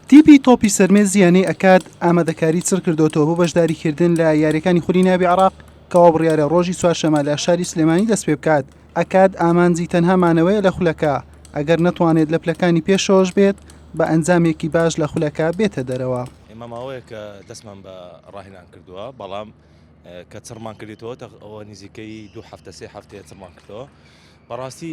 تیپی تۆپی سەرمێزی یانەی ئەکاد ئامادەکاری چڕ کردوەوە بۆ بەشداریکردن لە یاریەکانی خولی ناوی عراق کەوا بڕیارە ڕۆژی چوارشەمە لە شاری سلێمانی دەست پێ بکات ئەکاد ئامانجی تەنها مانەوەیە لە خولەکە ئەگەر نەتوانێت لە پلەکانی پێشەوەش بێت بە ئەنجامێکی باش لە خولەکە بێتە دەرەوە ئێمە ماوەیە کە دەستمان بە ڕاهێنان کردووە بەڵام کە چڕمان کردێتەوە ئەوە نزیکەی دوو هەفتە سێ هەفتەیە چڕمان کردەوە بەڕاستی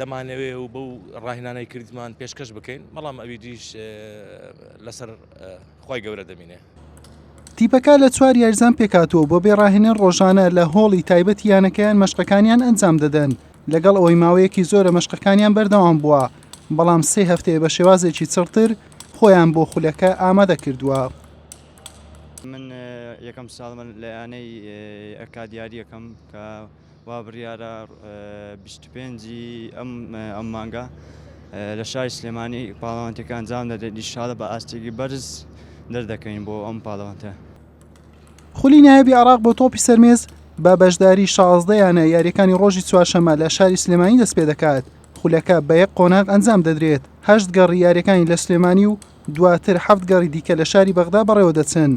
دەمانەوێ و بەو ڕاهێنانەی کردمان پێشکەش بکەین بەڵام ئەوی دیش لەسەر خی گەورە دەمینێ تیپەکە لە چوار یارزان پێکاتوە بۆ بێ ڕاهێنەر ڕۆژانە لە هۆڵی تایبەت یانەکەیان مەشقەکانیان ئەنجام دەدەن لەگەڵ ئەوەی ماوەیەکی زۆرە مەشقەکانیان بەردەوام بووە بەڵام سێ هەفتەیە بە شێوازێکی چڕتر خۆیان بۆ خولەکە ئامادە کردووە. من یەکەم ساڵمە لە یانەی ئەکادیاریەکەم کە وا بڕیارە بیست و پێنج ی ئەم مانگە لە شاری سلێمانی پاڵەوانتێکە ئەنجام دەدرێت ئیشاڵە بە ئاستێکی بەرز دەردەکەین بۆ ئەم پاڵەوانتە. خولی نایابی عێراق بۆ تۆپی سەرمێز بە بەشداری شازدە یانە یاریەکانی ڕۆژی چوارشەمە لە شاری سلێمانی دەست پێ دەکات خولەکە بە یەک قۆناغ ئەنجام دەدرێت هەشت گەڕی یاریەکانی لە سلێمانی و دواتر حەفت گەڕی دیکە لە شاری بەغدا بەڕێوە دەچن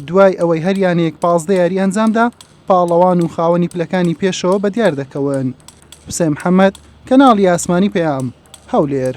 دوای ئەوەی هەریانەیەک پازدە یاری ئەنجامدا پاڵەوان و خاوەنی پلەکانی پێشەوە بەدیار دەکەون، حوسێن محەمەد، کەناڵی ئاسمانی پەیام، هەولێر.